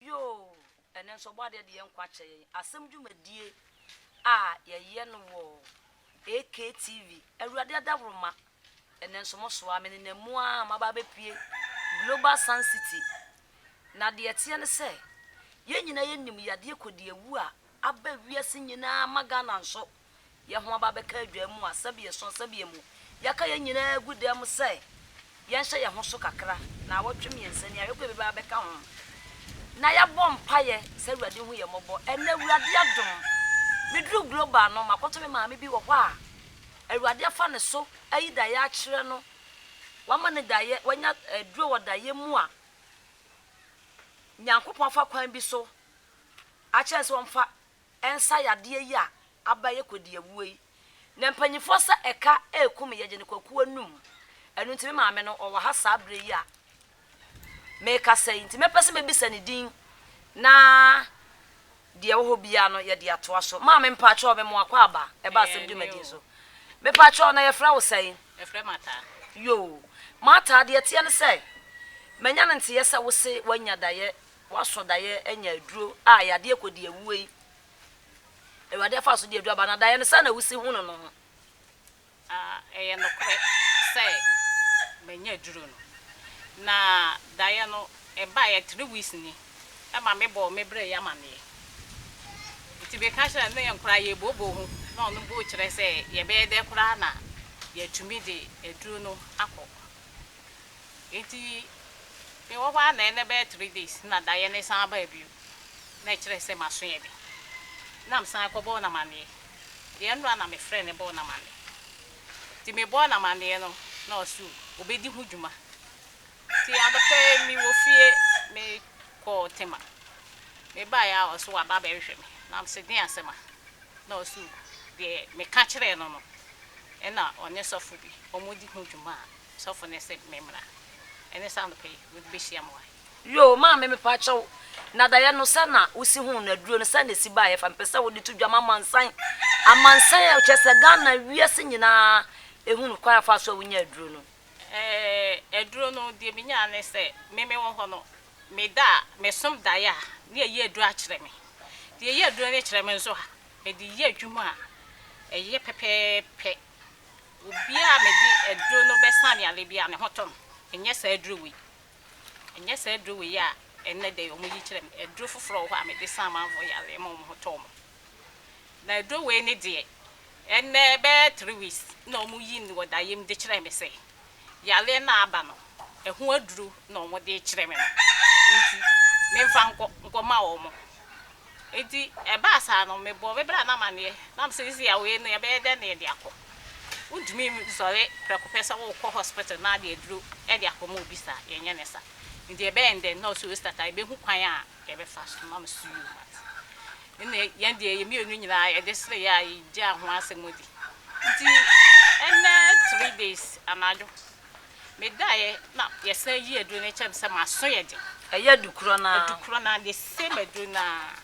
Yoo, ɛno nso Ɔbɔadeɛ de yɛ nkwa kyerɛ yɛn. Asɛm dwumadie a yɛyɛ no wɔ AKTV, Awurade Adaworoma, ɛnnɛ nso mo soa, me nenam mu ara maba abɛpue Global Sun City. Na deɛ ɛteɛ ne sɛ, yɛn nyinaa yɛnim yadeɛ kɔdiawu a aba wiase nyinaa ma Ghana nso yɛn ho aba bɛka adwaa mu a sɛbeɛso asɛbeɛmu yɛaka yɛn nyinaa agu dan mu sɛ yɛnhyɛ yɛn ho so kakra naawɔtwe mmiɛnsa ni a yɛkɔ baabi bɛba bɛka ho na yɛabɔ mpaeɛ sɛ Awurade hu yɛn mmɔbɔ. Ɛnnɛ Awurade adom me duru Global no makɔto me maame bi wɔ hɔ a Awurade afa ne so ayi daeɛ akyerɛ no, wama no daeɛ, wanya aduro wɔ daeɛ mu a Nyankopɔn afa kwan bi so akyerɛ no sɛ ɔmfa nsa yadeɛ yi a aba yɛ kɔdiawuo yi na mpanyinfoɔ sɛ ɛka ɛɛku me yɛgye no kwaku anum ɛno nti me maame no ɔwɔ ha saa berɛ yi a meekasa yi nti mɛpɛ sɛ mɛbisa ne din na deɛ ɛwɔ hɔ biara no yɛde atoa so maame mpaakyɛw me moa kɔ aba ɛba asɛm dwumadi nso mepaakyɛw na yɛfrɛ wo sɛn yɛfrɛ mataa yoo mataa deɛ ɛteɛ ne sɛ manya no nteɛ sɛ wo se wanya daeɛ Woasɔ daeɛ anya aduro a yadeɛ kɔdi awuo yi, Awurade afa so de aduro aba, na daeɛ no sɛn na wosi hunu no ho? A Ɛyɛ nokorɛ sɛ manya aduro no, na daeɛ no ɛbaeɛ three weeks ni, ɛma me bɔɔ me berɛ yi amaneɛ. Nti me ka kyerɛɛ no ne yɛn koraa yɛ booboo ho, na ɔno boo kyerɛ sɛ yɛbɛyɛ dɛ koraa na yɛatumi de aduro no akɔ Nti me wɔ hɔ ara na ɛnɛ bɛyɛ three days na daeɛ no san baa bio. Na ɛkyerɛ sɛ m'aso yɛ den. Na me san kɔbɔɔ no amaneɛ. Deɛ ɛno ara na me frɛɛ no bɔɔ no amaneɛ. Nti me bɔɔ no amaneɛ no na ɔse ɔbɛdi ho dwuma. Nti anɔpa yi me wɔ fie me kɔɔ Tema. Me baeɛ a ɔse waba abɛhwehwɛ me. Na me se den asɛm a? Na ɔse deɛ me ka kyerɛɛ no no ɛna ɔne sɔfo bi wɔn di ho dwuma a Sɔfo no se me mmra. Ɛne saa anɔpa yi mede bɛhyia mo ha. Yoo maame mepa kyɛ wo na daeɛ no sɛ na wo si huu no aduro no sɛ na ɛsi baeɛ fa mpɛ sɛ wo de to dwa ma amansan amansan a kyɛ sɛ Ghana wiase nyinaa ɛhunu kwan a fa so a wo nya aduro no. Eeh aduro no deɛ me nyaa ne sɛ me me wɔ hɔ no me da a me som daeɛ a ne yɛ yɛ aduro akyerɛ me deɛ yɛ aduro no kyerɛ me nso a me de yɛ adwuma a ɛyɛ pɛpɛɛpɛ. Obi a mede aduro no bɛsa aneale biara, me ho tɔ no. Ɛnyɛ saa aduro wei. Ɛnyɛ saa aduro wei a ɛnnɛ da yi wɔyi kyerɛ me. Aduro foforɔ wɔ hɔ a mede sa amanfoɔ yareɛ ma wɔn ho tɔ wɔn. Na aduro wei ne deɛ, ɛnnɛ bɛyɛ three weeks na wɔyi no wɔ dayɛm de kyerɛ me sɛ, yareɛ no a aba no, ɛho aduro na wɔn de rekyerɛ me no nti, memfa nkɔ nkɔma wɔn. Nti ɛbaa saa no, mebɔɔ me bra no amaneɛ, na me sɛ sisi a wei no yɛbɛyɛ dɛn na yɛde akɔ? Wontumi nsɔre prɛko pɛ sɛ wokɔ hospital na de aduro de akɔma obi saa, yɛnyɛ no saa. Nti ɛbɛyɛ dɛn? Na ɔse, Osita, yɛbɛhu kwan a yɛbɛfa so. Na me so, you must. Ɛnna yɛn deɛ, yɛn mmienu nyinaa yɛde sereeɛ a yɛgyaa ho asɛm di. Nti ɛnnɛ three days anadwo, medaeɛ na yɛsan yii aduro no kyerɛɛ me sɛ m'aso yɛ den. Ɛyɛ adukorɔ no ara. Adukorɔ no ara, the same aduro no ara.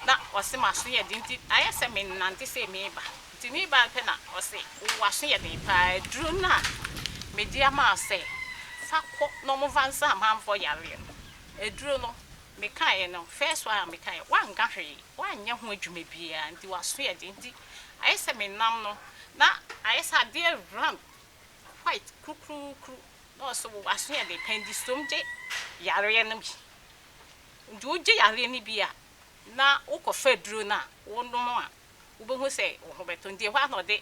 Na ɔse m'aso yɛ den nti ayɛ sɛ menante sei mereba. Nti mereba no pɛ na ɔse wo w'aso yɛ den pa ara, aduro no a mede ama wo sɛ fa kɔ na wɔmfa nsa amanfoɔ yareɛ no, aduro no. Mekaeɛ no, first one a mekaeɛ, wanka hwee, wanyɛ ho adwuma biara, nti w'aso yɛ den, nti ayɛ sɛ me nam no, na ayɛ sɛ adeɛ round, white kurukuruukuru, na ɔse wo w'aso yɛ den, pɛndistom gye yareɛ no bi, nti wogye yareɛ no bi a, na wokɔ fa aduro no a wonom a, wobɛhu sɛ wo ho bɛtɔ, nti ɛhɔ ara na ɔde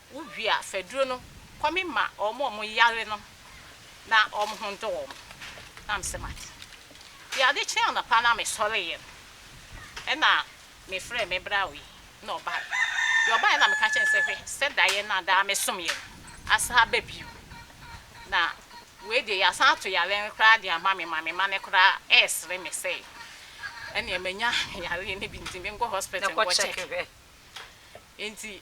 Wo wie a fa duro no kɔ me ma wɔn a wɔn yare no na wɔn ho ndɔ wɔn na me sɛ mate deɛ ade kye anɔpa na me sɔre yɛ no ɛna me frɛ me bra wei na ɔbaɛ deɛ ɔbaɛ na me ka kyɛ no sɛ hwɛ sɛ daeɛ na daa me som yɛ no asan aba bio na wei deɛ yɛ asan ato yare no koraa deɛ ama me ma me ma no koraa ɛsere me sɛ ɛneɛ manya yare no bi nti me nkɔ hospital nkɔ check nti.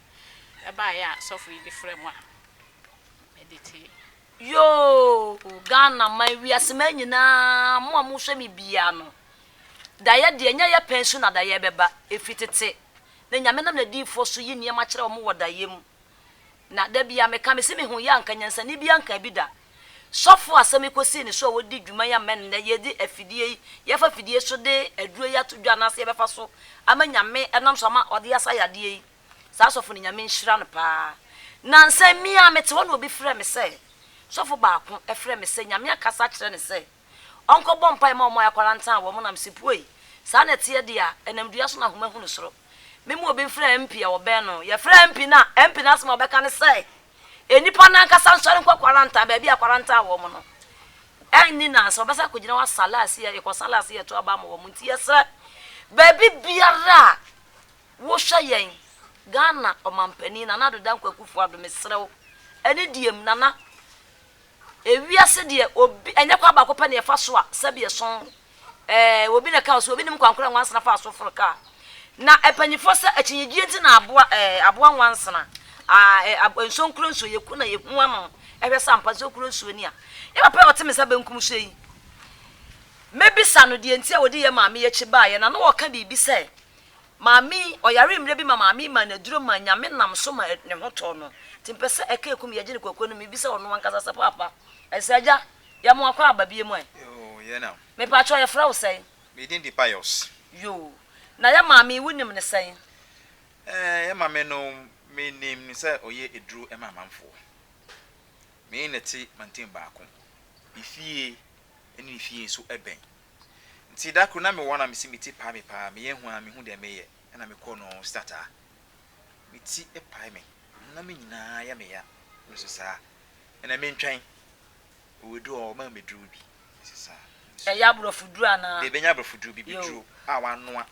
ɛbaeɛ a sɔfo yi de frɛ mo a mede tee. Yoo Ghana man wiase man nyinaa mo a mohwɛ me biaa no daeɛ deɛ nyɛ yɛ pɛn so na daeɛ bɛba ɛfiri tete na Nyame nam nadiyifoɔ so yi nneɛma kyerɛ wɔn wɔ daeɛ mu na da biaa meka mese me ho yɛ anka nyansani biaa nkaa bi da Sɔfo a sɛ mekosii ne so a wodi dwuma yi ama nnɛ yɛde afidie yi, yɛfa fidie so de aduro yi ato dwa anaasɛ yɛbɛfa so ama Nyame nam so ama ɔde asa yadeɛ yi, saa sɔfo no Nyame nhyira no paa. Nansa yi me ara mete hɔ na obi frɛ me sɛ, sɔfo baako frɛ me sɛ Nyame akasa akyerɛ no sɛ, Ɔnkɔbɔ mpae mma wɔn a wɔakwara ntaa wɔn nam se, Puei! Saa na ɛteɛ de a, ɛnam dua so na ahoma hunu soro. Mema obi mfrɛ MP a wɔbɛn no. Yɛfrɛ MP no a, MP no asɛm a ɔbɛka ne sɛ, Nnipa no ankasa nsɔre nkɔ kwarantan, baabi a akwara ntaa wɔn no. Ɛnni nnansa, wɔbɛsan akɔgyina hɔ asa laase a yɛkɔsa laase yɛto aba ama wɔn. Nti yɛsrɛ, baabi biara a wohwɛ yɛn, Ghana Ɔmampanin, Nana Addo Dankwa Akufo-Addo, mesrɛ wo, ɛne diem, Nana. Ewiase deɛ obi, ɛnyɛ kwan baako pɛ na yɛfa so a sɛbi ɛsɔn. Ɛɛ, obi na ɛkaa ɔse, obi nim kwan koro a nwansena faa so foro kaa. Na mpanyinfoɔ sɛ akyinnyegyeɛ nti na aboa, ɛɛ, aboa nwansena. Aa, ɛɛ, ab, nsuo nkuro nsuo, yɛku na yɛhu ano hwɛ sɛ ampa nsuo kuro nsuo ni a. Yɛ papa yi a ɔte me nsa benkum so yi, mɛbisa no deɛ nti a ɔde yɛn maame yi akyi baeɛ. Na na ɔreka biribi sɛ, Maame yi, ɔyaree mmerɛ bi ma maame yi maa no aduro maa Nyame nam so ma ne ho tɔɔ no. Nti mpɛ sɛ ɛka ekum yɛgye no kwakuo no mu mebisa ɔno ankasa sɛ paapa ɛsɛ agya yɛ mo akɔ aba bie mu ɛ? Yoo yɛ nam. Mepakyɛw yɛfrɛ wo sɛn? Me din de Pius. Yoo na yɛ maame yi wo nim no sɛn? Ɛɛ yɛ maame no me nim no sɛ ɔyɛ aduro ma amanfoɔ. Me ne no te mantam baako. Efie ɛne ne fie nso ɛbɛn. Ntsi da kor na mowɔ hɔ na mese me tsir pae me paa, meyɛ hu a mennhu dza meyɛ na mokɔ no stataa. Me tsir pae me, honam nyina yɛ me ya, me so saa. Nna menntwɛn, oedu hɔ wɔmaa me dur bi, me so saa. Nsu. Ɔyɛ aborɔfo duru anaa? Daabi, nnyɛ aborɔfo dur, bibiduro a wɔanoa.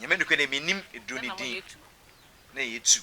Nyame nokwar dɛ, mennim dur no din. Nna yetu.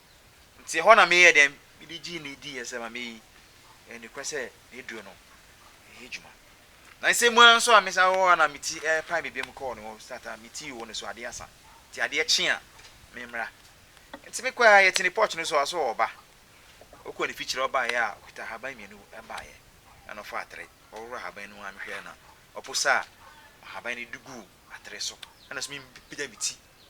Nti ɛhɔ na meyɛɛ dɛn? Mede gyee no diiɛ sɛ maame yi, ɛyɛ nokorɛ sɛ n'aduro no ɛyɛ adwuma. Na nsɛm mu ara nso a mesan hɔ a na me ti ɛrepae me biom kɔɔ ne hɔ sɛ ata me ti oo ne so adeɛ asa nti adeɛ kye a memmra. Nti mekɔɛ ara yɛtenee porch no so a ɔso ɔreba. Ɔkɔɔ ne fikyire ɔbaeɛ a ɔkita ahaban mmienu baeɛ ɛna ɔfaa atere ɔworɔ ahaban no mu a mehwɛɛ no a ɔposaa ahaban no de guu atere so ɛna nso mepagya me ti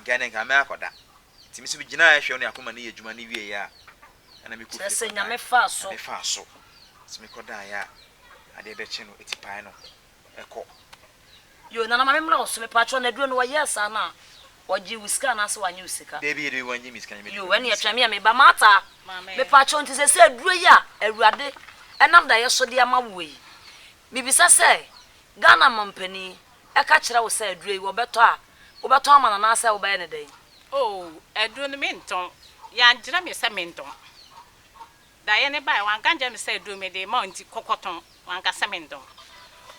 nka ɛnde nka mɛakɔda. Nti me nso megyinaaɛ hwɛ ɔne Akoma no yɛ adwuma no wieeɛ a ɛna mekɔ fie kɔdaeɛ. Kyerɛ sɛ Nyame faa so. Nyame faa so. Nti me kɔdaeɛ a adeɛ bɛkye no atipae no ɛkɔ. Yoo Nana ma me mmra wo so mepakyɛw na aduro no wɔ yɛɛ saa no a wɔ gyee wo sika anaa sɛ wanyɛ wo sika. Dabi dabi wɔ nyɛ me sika nyɛ me aduro. Yoo ɛneɛ twɛn me a meba Martha mepakyɛw nti sɛsɛ aduro yi a Awurade ɛnam daeɛ so de ama woɔ yi mebisa sɛ Ghana mampanin ɛka kyerɛ wo sɛ aduro yi wɔbɛtɔ a, wobɛtɔn ama no anaasɛ wobɛyɛ no dɛn? Oo, aduro no mentɔn. Wankyerɛ me sɛ mentɔn. Daeɛ no baeɛ, wanka ankyerɛ me sɛ aduro mede rema wo nti kɔkɔtɔn. Wanka sɛ mentɔn.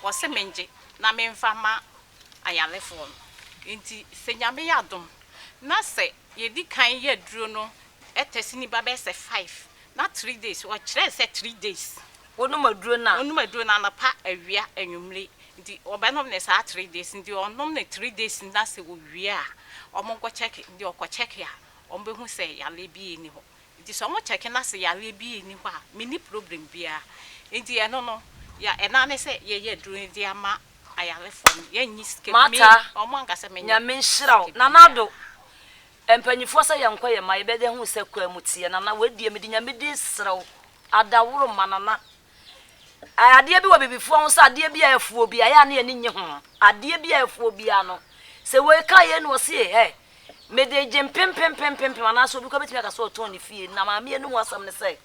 Ɔse mengye na memfa mma ayarefoɔ no. Nti sɛ Nyame yɛ adom na sɛ yɛdi kan yɛ aduro no test no ba bɛyɛ sɛ five na three days, ɔkyerɛɛ sɛ three days. Wɔnom aduro no a. Wɔnom aduro no anɔpa, awia, anwummere. Nti wɔbɛnom no saa three days. Nti wɔnom no three days no na sɛ wɔwie a, wɔnkɔ check. Nti wɔkɔ check a, wɔbɛhu sɛ yareɛ biara nni hɔ. Nti sɛ wɔn check na sɛ yareɛ biara nni hɔ a, menni problem biara. Nti ɛno no, yɛ ɛno ara ne sɛ yɛyɛ aduro no de ama ayarefoɔ no. Yɛnnye sika biara. Mata. Wɔn anka sɛ menyɛ. Nyame nhyira wo. Nana Addo, mpaninfoɔ sɛ yɛnkɔ yɛn mma, yɛbɛda hu sɛ kwaa mu teɛ. Nana, wei deɛ mede Nyame din srɛ wo, Adaworo ma nana. Ɛɛ adeɛ bi wɔ bibifoɔ ho sɛ adeɛ bi a ɛfu obi a ɛyɛ a ne ani nnye ho. Adeɛ bi a ɛfu obi a no sɛ wei ka yei na ɔse ɛ mede gye mpempempempempem anaasɛ obi koraa bɛtumi aka sɛ ɔtɔn ne fie. Na maame yɛ no ho asɛm ne sɛ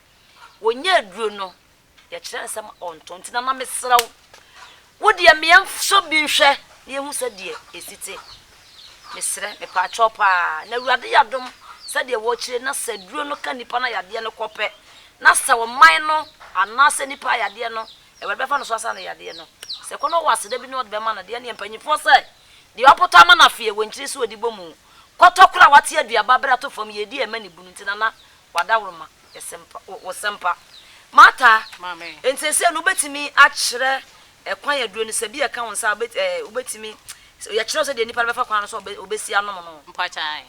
wɔnya aduro no yɛkyerɛ no sɛ ɔntɔn nti nana mesrɛ wo Wo deɛ me yɛn sɔ bi nhwɛ na yɛhu sɛ deɛ ɛsi te mesrɛ mepaakyɛw paa na awurade yadom sɛ deɛ wɔkyire na sɛ aduro no ka nipa no ayadeɛ no kɔ pɛ na sɛ ɔman no anaa sɛ nipa ayadeɛ no awurade bɛfa no so asa no yadeɛ no sɛ kɔ no wɔ aseda bi ne ɔde bɛma no deɛ neɛ mpanyifoɔ sɛ deɛ ɔpotɔ ama no afeɛ wɔ nkyiri so ɔde bɔ mu kɔtɔ kora wate aduaba berɛ ato fam yɛdi ɛma ne bunu nti nana w'adaworoma yɛsɛmpa, wo, wo sɛmpa. Martha, enti seesei no wobɛtumi akyerɛ ɛkwan aduro no, sɛ bi ɛka wo nsa a, wobɛ, ɛɛ, wobɛtumi, yɛkyerɛ wo sɛ deɛ nipa no bɛfa kwan no so a ɔbɛsi anom no. Mpakyɛ ae.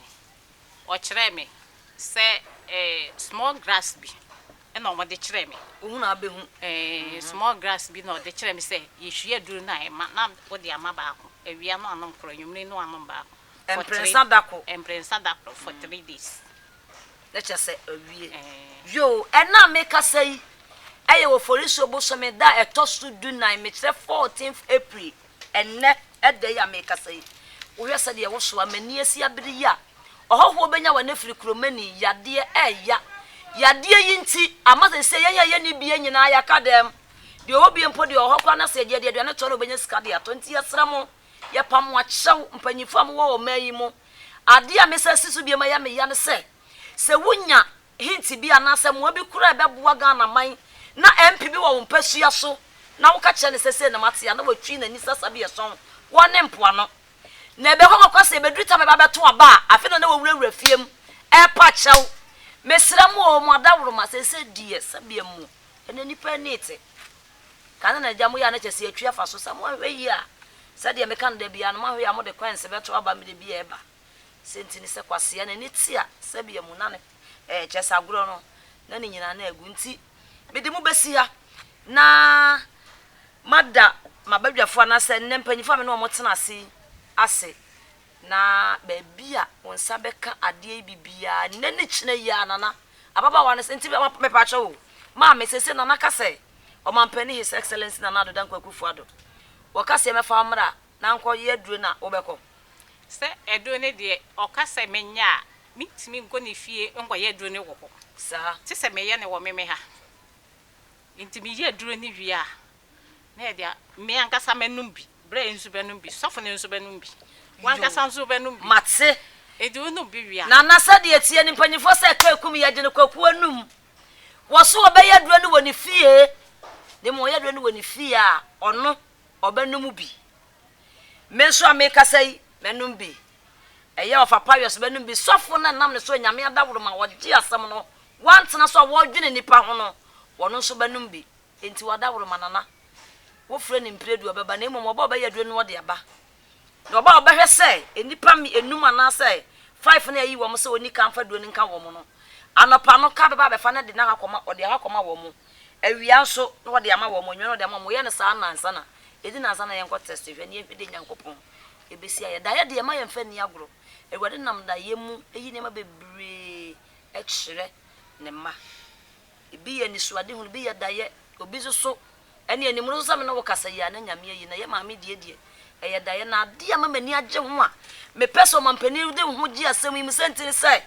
Ɔkyerɛɛ me sɛ, ɛɛ, small grass bi ɛna wɔn de kyerɛɛ me. Wohu na abɛhu. Ɛɛ, small grass bi na ɔde kyerɛɛ me sɛ yɛhwie aduro no a ɛma, na wode ama baako, awia no anom koro, anwummere no anom baako. Mprɛnsa dakoro. Mprɛnsa dakoro for three days. Na kyerɛ sɛ awie. Yoo, ɛnnɛ a merekasa yi yɛ Oforisuo bosome da a ɛtɔ so dunan, mekyerɛ 14th April, ɛnnɛ da yi a merekasa yi. Wohwɛ sɛdeɛ woso a, m'ani asi abere yi a ɔhɔhoɔ bɛnya wɔn afiri Kuromani, yadeɛ ɛreya. Yadeɛ yi nti, ama seesei yɛn a yɛnni bie nyinaa yɛaka dɛm. Deɛ ɔwɔ bie mpo deɛ, ɔwɔ hɔ koraa na sɛ yɛde aduane to a na ɔbɛnya sika de atɔ. Nti yɛsrɛ mo, yɛpa mo akyɛw, mpanyinfoɔ a mowɔ ɔman yi mu, Ade a mɛsan asi so bio ma ɛyɛ me ya ne sɛ, sɛ wonya hint bi anaasɛ mmoa bi koraa a ɛbɛboa Ghanaman na MP bi wɔ wo mpasua so na woka kyerɛ no sɛ sei na mate a, na watwi n'ani sɛ Asabiɛsɔn hɔ ne mpoano. Na ɛbɛkɔ akɔkora sɛ ɛbɛduru tam a ɛbɛba abɛto aba a, afei na na wɔawurawura fie mu repa kyɛw. Mesrɛ mo o, mo adaworoma, seesei deɛ sɛdeɛ mo ne nnipa ani rete, Ka ne n'agya mo yɛ a na kyɛ sɛ yɛatu afa so. Sɛ moanhwɛ yie a, sɛdeɛ meka no da biara no, moanhwɛ yie a mode kɔɛnse bɛto aba mmerɛ bi a ɛba. Sɛ nti ne sɛ kwasea n'ani te a, sɛbea mu na ne, ɛɛ, kyerɛ sɛ agorɔ no, na ne nyinaa na agu. Nti mede mo bɛsi ha na mada m'abadwafoɔ anaasɛ nnɛ mpanyimfoɔ a me ne wɔn tena ase yi ase. Na baabi a wo nsa bɛka adeɛ yi bi biara, nnɛ ne kyena yi ara, Nana, ababaawa no se, nti me, me, mepakyɛ wo, Maame, seesei Nana ka sɛ, Ɔmampanin His Excellency Nana Addo Dankwa Akufo-Addo, wɔka sɛ mɛfa wo mmra na nkɔ yɛ aduro na wobɛkɔ. Sɛ aduro no deɛ, ɔka sɛ menyɛ a, mentumi nkɔ ne fie nkɔ yɛ aduro no wɔ hɔ. Saa. Te sɛ meyɛ no wɔ me, me ha. Nti meyɛ aduro no wie a, na yɛde a, me ankasa mɛnom bi, berɛ yi nso bɛnom bi, sɔfo no nso bɛnom bi, w'ankasa nso wobɛnom bi. Mate. Enti wonom bi wie a. Nana sɛdeɛ ɛteɛ no mpanyimfoɔ sɛ ɛka akum yɛ gye no kwaku anum wɔso ɔbɛyɛ aduro no wɔ ne fie na mmom ɔyɛ aduro no wɔ ne fie a ɔno ɔbɛnom bi me nso a mekasa yi mɛnom bi ɛyɛ ɔfa payɔs bɛnom bi sɔfo no nam ne so anyame adaworoma ɔgye asɛm no wantena so a wɔdwene nipa ho no wɔno nso bɛnom bi Enti w'adaworoma nana wofrɛ no mprɛdu ɔbɛba, na mmom ɔba a ɔbɛyɛ aduro no ɔde aba, na ɔba a ɔbɛhwɛ sɛ nnipa nnum anaasɛ five no a ayi wɔn sɛ ɔnni kan mfa aduro no nka wɔn no, anɔpa no ka bɛba abɛfa no de no akɔ akɔma, ɔde akɔ akɔma wɔn, awia nso na ɔde ama wɔn, anwummerɛ na ɔde ama wɔn, wɔyɛ no saa nnansa na, ɛdi nnansa na yɛnkɔ test hwɛ na yɛnhwɛ deɛ Nyankopɔn bɛsi ayɛ. Daeɛ deɛ mma yɛmfa nni agorɔ, Awurade nam daeɛ mu yi nneɛma bebree kyerɛ Ne mma. Ebi yɛ anisoadehunu, ebi yɛ adayɛ, obi nso so ɛne anim no nso sɛ me ne wo kasa yi a na Nyame ayi na yɛ maame die deɛ ɛyɛ daeɛ na adeɛ a ma m'ani agye ho a mepɛ sɛ ɔmampanin de ho gye asɛm yi mu sɛ nti ne sɛ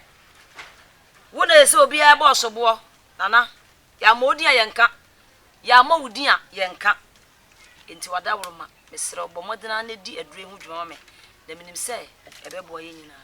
wo na ɛsɛ obiara bɔ ɔsoboɔ nana yɛama wo din a yɛnka yɛama wo din a yɛnka nti wadaworo ma mesrɛ ɔbɔ mmɔden ara na di aduro yi ho dwuma ma me na menim sɛ ɛbɛboa yɛn nyinaa